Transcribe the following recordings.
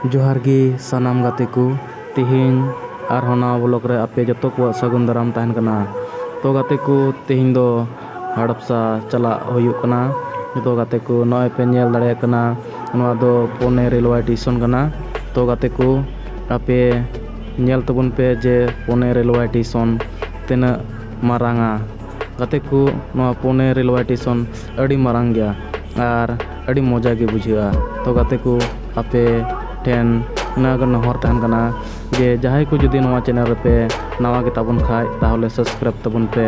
ᱡᱚᱦᱟᱨ ᱜᱮ ᱥᱟᱱᱟᱢ ᱜᱟᱛᱮ ᱠᱚ ᱛᱮᱦᱮᱧ ᱟᱨᱦᱚᱸ ᱱᱟᱣᱟ ᱵᱞᱚᱜᱽ ᱨᱮ ᱟᱯᱮ ᱡᱚᱛᱚ ᱠᱚᱣᱟᱜ ᱥᱟᱹᱜᱩᱱ ᱫᱟᱨᱟᱢ ᱛᱟᱦᱮᱱ ᱠᱟᱱᱟ ᱛᱚ ᱜᱟᱛᱮ ᱠᱚ ᱛᱮᱦᱮᱧ ᱫᱚ ᱦᱟᱰᱯᱥᱟ ᱪᱟᱞᱟᱜ ᱦᱩᱭᱩᱜ ᱠᱟᱱᱟ ᱡᱚᱛᱚ ᱜᱟᱛᱮ ᱠᱚ ᱱᱚᱜᱼᱚᱭ ᱯᱮ ᱧᱮᱞ ᱫᱟᱲᱮᱭᱟᱜ ᱠᱟᱱᱟ ᱱᱚᱣᱟ ᱫᱚ ᱯᱩᱱᱮ ᱨᱮᱞᱣᱟᱭ ᱴᱮᱥᱚᱱ ᱠᱟᱱᱟ ᱛᱚ ᱜᱟᱛᱮ ᱠᱚ ᱟᱯᱮ ᱧᱮᱞ ᱛᱟᱵᱚᱱ ᱯᱮ ᱡᱮ ᱯᱩᱱᱮ ᱨᱮᱞᱣᱟᱭ ᱴᱮᱥᱚᱱ ᱛᱤᱱᱟᱹᱜ ᱢᱟᱨᱟᱝᱟ ᱜᱟᱛᱮ ᱠᱚ ᱱᱚᱣᱟ ᱯᱩᱱᱮ ᱨᱮᱞᱣᱮ ᱴᱮᱥᱚᱱ ᱟᱹᱰᱤ ᱢᱟᱨᱟᱝ ᱜᱮᱭᱟ ᱟᱨ ᱟᱹᱰᱤ ᱢᱚᱡᱟ ᱜᱮ ᱵᱩᱡᱷᱟᱹᱜᱼᱟ ᱛᱚ ᱜᱟᱛᱮ ᱠᱚ ᱟᱯᱮ ᱴᱷᱮᱱ ᱱᱚᱣᱟ ᱜᱮ ᱱᱮᱦᱚᱨ ᱛᱟᱦᱮᱱ ᱠᱟᱱᱟ ᱡᱮ ᱡᱟᱦᱟᱸᱭ ᱠᱚ ᱡᱩᱫᱤ ᱱᱚᱣᱟ ᱪᱮᱱᱮᱞ ᱨᱮᱯᱮ ᱱᱟᱣᱟ ᱜᱮᱛᱟ ᱵᱚᱱ ᱠᱷᱟᱡ ᱛᱟᱦᱚᱞᱮ ᱥᱟᱵᱥᱠᱨᱟᱭᱤᱵᱽ ᱛᱟᱵᱚᱱ ᱯᱮ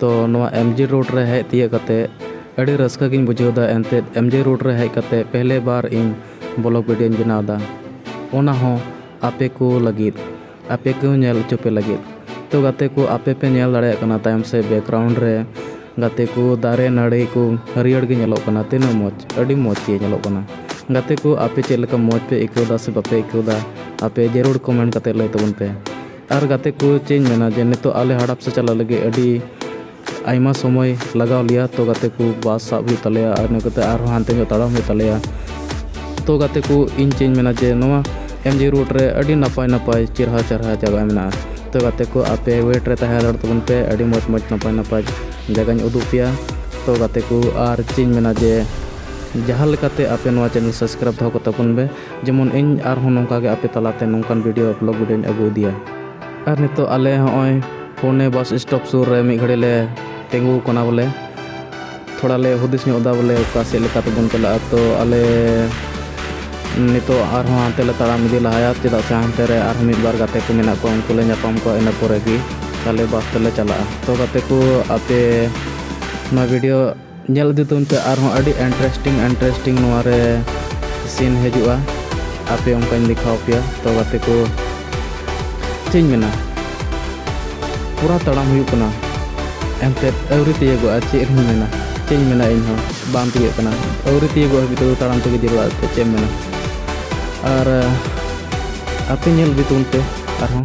ᱛᱚ ᱱᱚᱣᱟ ᱮᱢ ᱡᱤ ᱨᱳᱰ ᱨᱮ ᱦᱮᱡ ᱛᱤᱭᱟᱹᱜ ᱠᱟᱛᱮᱫ ᱟᱹᱰᱤ ᱨᱟᱹᱥᱠᱟᱹ ᱜᱤᱧ ᱵᱩᱡᱷᱟᱹᱣ ᱮᱫᱟ ᱮᱱᱛᱮᱫ ᱮᱢ ᱡᱤ ᱨᱳᱰ ᱨᱮ ᱦᱮᱡ ᱠᱟᱛᱮᱫ ᱯᱮᱦᱞᱮ ᱵᱟᱨ ᱤᱧ ᱵᱞᱚᱠ ᱵᱷᱤᱰᱭᱳᱧ ᱵᱮᱱᱟᱣ ᱮᱫᱟ ᱚᱱᱟ ᱦᱚᱸ ᱟᱯᱮ ᱠᱚ ᱞᱟᱹᱜᱤᱫ ᱟᱯᱮ ᱠᱚ ᱧᱮᱞ ᱦᱚᱪᱚ ᱯᱮ ᱞᱟᱹᱜᱤᱫ ᱛᱚ ᱜᱟᱛᱮ ᱠᱚ ᱟᱯᱮ ᱯᱮ ᱧᱮᱞ ᱫᱟᱲᱮᱭᱟᱜ ᱠᱟᱱᱟ ᱛᱟᱭᱚᱢ ᱥᱮᱫ ᱵᱮᱠᱜᱨᱟᱣᱩᱱᱰ ᱨᱮ ᱜᱟᱛᱮ ᱠᱚ ᱫᱟᱨᱮ ᱱᱟᱹᱲᱤ ᱠᱚ ᱦᱟᱹᱨᱭᱟᱹᱲ ᱜᱮ ᱧᱮᱞᱚᱜ ᱠᱟᱱᱟ ᱛᱤᱱᱟᱹᱜ ᱢᱚᱡᱽ ᱟᱹᱰᱤ ᱢᱚᱡᱽ ᱜᱮ ᱧᱮᱞᱚᱜ ᱠᱟᱱᱟ ᱜᱟᱛᱮ ᱠᱚ ᱟᱯᱮ ᱪᱮᱫ ᱞᱮᱠᱟ ᱢᱚᱡᱽ ᱯᱮ ᱟᱹᱭᱠᱟᱹᱣ ᱮᱫᱟ ᱥᱮ ᱵᱟᱯᱮ ᱟᱹᱭᱠᱟᱹᱣ ᱮᱫᱟ ᱟᱯᱮ ᱡᱟᱹᱨᱩᱲ ᱠᱚᱢᱮᱱᱴ ᱠᱟᱛᱮᱫ ᱞᱟᱹᱭ ᱛᱟᱵᱚᱱ ᱯᱮ ᱟᱨ ᱜᱟᱛᱮ ᱠᱚ ᱪᱮᱫ ᱤᱧ ᱢᱮᱱᱟ ᱡᱮ ᱱᱤᱛᱚᱜ ᱟᱞᱮ ᱦᱟᱰᱟᱯ ᱥᱮᱫ ᱪᱟᱞᱟᱜ ᱞᱟᱹᱜᱤᱫ ᱟᱹᱰᱤ ᱟᱭᱢᱟ ᱥᱚᱢᱚᱭ ᱞᱟᱜᱟᱣ ᱞᱮᱭᱟ ᱛᱚ ᱜᱟᱛᱮ ᱠᱚ ᱵᱟᱥ ᱥᱟᱵ ᱦᱩᱭᱩᱜ ᱛᱟᱞᱮᱭᱟ ᱟᱨ ᱤᱱᱟᱹ ᱠᱟᱛᱮᱫ ᱟᱨᱦᱚᱸ ᱦᱟᱱᱛᱮ ᱧᱚᱜ ᱛᱟᱲᱟᱢ ᱦᱩᱭᱩᱜ ᱛᱟᱞᱮᱭᱟ ᱛᱚ ᱜᱟᱛᱮ ᱠᱚ ᱤᱧ ᱪᱮᱫ ᱤᱧ ᱢᱮᱱᱟ ᱡᱮ ᱱᱚᱣᱟ ᱮᱢ ᱡᱤ ᱨᱳᱰ ᱨᱮ ᱟᱹᱰᱤ ᱱᱟᱯᱟᱭ ᱱᱟᱯᱟᱭ ᱪᱮᱦᱨᱟ ᱪᱮᱦᱨᱟ ᱡᱟᱭᱜᱟ ᱢᱮᱱᱟᱜᱼᱟ ᱛᱚ ᱜᱟᱛᱮ ᱠᱚ ᱟᱯᱮ ᱳᱭᱮᱴ ᱨᱮ ᱛᱟᱦᱮᱸ ᱦᱟᱛᱟᱲᱚᱜ ᱛᱟᱵᱚᱱ ᱯᱮ ᱟᱹᱰᱤ ᱢᱚᱡᱽ ᱢᱚᱡᱽ ᱱᱟᱯᱟᱭ ᱱᱟᱯᱟᱭ ᱡᱟᱭᱜᱟᱧ ᱩᱫᱩᱜ ᱟᱯᱮᱭᱟ ᱛᱚ ᱜᱟᱛᱮ ᱠᱚ ᱟᱨ ᱪᱮᱫ ᱤᱧ ᱢᱮᱱᱟ ᱡᱮ ᱡᱟᱦᱟᱸ ᱞᱮᱠᱟᱛᱮ ᱟᱯᱮ ᱱᱚᱣᱟ ᱪᱮᱱᱮᱞ ᱥᱟᱵᱥᱠᱨᱟᱭᱤᱵᱽ ᱫᱚᱦᱚ ᱠᱟᱛᱟ ᱵᱚᱱ ᱯᱮ ᱡᱮᱢᱚᱱ ᱤᱧ ᱟᱨᱦᱚᱸ ᱱᱚᱝᱠᱟ ᱜᱮ ᱟᱯᱮ ᱛᱟᱞᱟ ᱛᱮ ᱱᱚᱝᱠᱟᱱ ᱵᱷᱤᱰᱤᱭᱳ ᱵᱞᱚᱜᱽ ᱵᱷᱤᱰᱤᱭᱳᱧ ᱟᱹᱜᱩ ᱤᱫᱤᱭᱟ ᱟᱨ ᱱᱤᱛᱚᱜ ᱟᱞᱮ ᱦᱚᱸᱜᱼᱚᱭ ᱯᱩᱱᱮ ᱵᱟᱥ ᱥᱴᱚᱯ ᱥᱩᱨ ᱨᱮ ᱢᱤᱫ ᱜᱷᱟᱹᱲᱤᱡ ᱞᱮ ᱛᱤᱸᱜᱩ ᱟᱠᱟᱱᱟ ᱵᱚᱞᱮ ᱛᱷᱚᱲᱟ ᱞᱮ ᱦᱩᱫᱤᱥ ᱧᱚᱜ ᱮᱫᱟ ᱵᱚᱞᱮ ᱚᱠᱟ ᱥᱮᱫ ᱞᱮᱠᱟ ᱛᱮᱵᱚᱱ ᱪᱟᱞᱟᱜᱼᱟ ᱛᱚ ᱟᱞᱮ ᱱᱤᱛᱚᱜ ᱟᱨᱦᱚᱸ ᱦᱟᱱᱛᱮ ᱞᱮ ᱛᱟᱲᱟᱢ ᱤᱫᱤ ᱞᱟᱦᱟᱭᱟ ᱪᱮᱫᱟᱜ ᱥᱮ ᱦᱟᱱᱛᱮ ᱨᱮ ᱟᱨᱦᱚᱸ ᱢᱤᱫ ᱵᱟᱨ ᱜᱟᱛᱮ ᱠᱚ ᱢᱮᱱᱟᱜ ᱠᱚᱣᱟ ᱩᱱᱠᱩ ᱞᱮ ᱧᱟᱯᱟᱢ ᱠᱚᱣᱟ ᱤᱱᱟᱹ ᱯᱚᱨᱮ ᱜᱮ ᱟᱞᱮ ᱵᱟᱥ ᱛᱮᱞᱮ ᱪᱟᱞᱟᱜᱼᱟ ᱛᱚ ᱜᱟᱛᱮ ᱠᱚ ᱟᱯᱮ ᱱᱚᱣᱟ ᱵᱷᱤᱰᱤᱭᱳ ᱧᱮᱞ ᱤᱫᱤ ᱛᱟᱵᱚᱱ ᱯᱮ ᱟᱨᱦᱚᱸ ᱟᱹᱰᱤ ᱤᱱᱴᱟᱨᱮᱥᱴᱤᱝ ᱤᱱᱴᱟᱨᱮᱥᱴᱤᱝ ᱱᱚᱣᱟ ᱨᱮ ᱥᱤᱱ ᱦᱤᱡᱩᱜᱼᱟ ᱟᱯᱮ ᱚᱱᱠᱟᱧ ᱫᱮᱠᱷᱟᱣ ᱯᱮᱭᱟ ᱛᱚ ᱜᱟᱛᱮ ᱠᱚ ᱪᱮᱫ ᱤᱧ ᱢᱮᱱᱟ ᱯᱩᱨᱟ ᱛᱟᱲᱟᱢ ᱦᱩᱭᱩᱜ ᱠᱟᱱᱟ ᱮᱱᱛᱮᱫ ᱟᱹᱣᱨᱤ ᱛᱤᱭᱳᱜᱚᱜᱼᱟ ᱪᱮᱫ ᱤᱧ ᱢᱮᱱᱟ ᱪᱮᱫ ᱤᱧ ᱢᱮᱱᱟ ᱤᱧ ᱦᱚᱸ ᱵᱟᱝ ᱛᱤᱭᱳᱜ ᱠᱟᱱᱟ ᱟᱹᱣᱨᱤ ᱛᱤᱭᱳᱜᱚᱜ ᱦᱟᱹᱵᱤᱡ ᱛᱮᱫᱚ ᱛᱟᱲᱟᱢ ᱛᱮᱜᱮ ᱡᱟᱹᱨᱩᱲᱟ ᱪᱮᱫ ᱮᱢ ᱢᱮᱱᱟ ᱟᱨ ᱟᱯᱮ ᱧᱮᱞ ᱤᱫᱤ ᱛᱟᱵᱚᱱ ᱯᱮ ᱟᱨᱦᱚᱸ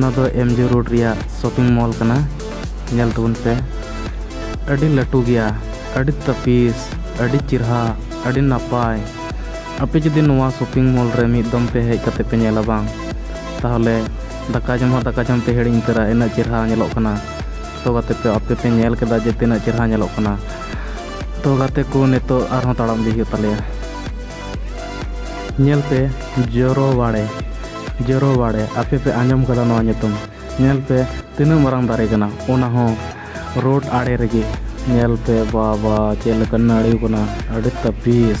ᱱᱚᱣᱟ ᱫᱚ ᱮᱢ ᱡᱤ ᱨᱳᱰ ᱨᱮᱭᱟᱜ ᱥᱚᱯᱤᱝ ᱢᱚᱞ ᱠᱟᱱᱟ ᱧᱮᱞ ᱛᱟᱵᱚᱱ ᱯᱮ ᱟᱹᱰᱤ ᱞᱟᱹᱴᱩ ᱜᱮᱭᱟ ᱟᱹᱰᱤ ᱛᱟᱹᱯᱤᱥ ᱟᱹᱰᱤ ᱪᱮᱨᱦᱟ ᱟᱹᱰᱤ ᱱᱟᱯᱟᱭ ᱟᱯᱮ ᱡᱩᱫᱤ ᱱᱚᱣᱟ ᱥᱚᱯᱤᱝ ᱢᱚᱞ ᱨᱮ ᱢᱤᱫ ᱫᱚᱢ ᱯᱮ ᱦᱮᱡ ᱠᱟᱛᱮ ᱯᱮ ᱧᱮᱞᱟ ᱵᱟᱝ ᱛᱟᱦᱚᱞᱮ ᱫᱟᱠᱟ ᱡᱚᱢ ᱦᱚᱸ ᱫᱟᱠᱟ ᱡᱚᱢ ᱯᱮ ᱦᱤᱲᱤᱧ ᱩᱛᱟᱹᱨᱟ ᱤᱱᱟᱹᱜ ᱪᱮᱨᱦᱟ ᱧᱮᱞᱚᱜ ᱠᱟᱱᱟ ᱛᱚ ᱜᱟᱛᱮ ᱯᱮ ᱟᱯᱮ ᱯᱮ ᱧᱮᱞ ᱠᱮᱫᱟ ᱡᱮ ᱛᱤᱱᱟᱹᱜ ᱪᱮᱦᱨᱟ ᱧᱮᱞᱚᱜ ᱠᱟᱱᱟ ᱛᱚ ᱜᱟᱛᱮ ᱠᱚ ᱱᱤᱛᱚᱜ ᱟᱨᱦᱚᱸ ᱛᱟᱲᱟᱢ ᱤᱫᱤ ᱦᱩᱭᱩᱜ ᱛᱟᱞᱮᱭᱟ ᱧᱮᱞ ᱯᱮ ᱡᱚᱨᱚ ᱵᱟᱲᱮ ᱡᱚᱨᱚ ᱵᱟᱲᱮ ᱟᱯᱮ ᱯᱮ ᱟᱸᱡᱚᱢ ᱠᱟᱫᱟ ᱱᱚᱣᱟ ᱧᱩᱛᱩᱢ ᱧᱮᱞ ᱯᱮ ᱛᱤᱱᱟᱹᱜ ᱢᱟᱨᱟᱝ ᱫᱟᱨᱮ ᱠᱟᱱᱟ ᱚᱱᱟ ᱦᱚᱸ ᱨᱳᱰ ᱟᱲᱮ ᱨᱮᱜᱮ ᱧᱮᱞ ᱯᱮ ᱵᱟᱵᱟ ᱪᱮᱫ ᱞᱮᱠᱟ ᱱᱟᱹᱲᱤ ᱠᱟᱱᱟ ᱟᱹᱰᱤ ᱛᱟᱹᱯᱤᱥ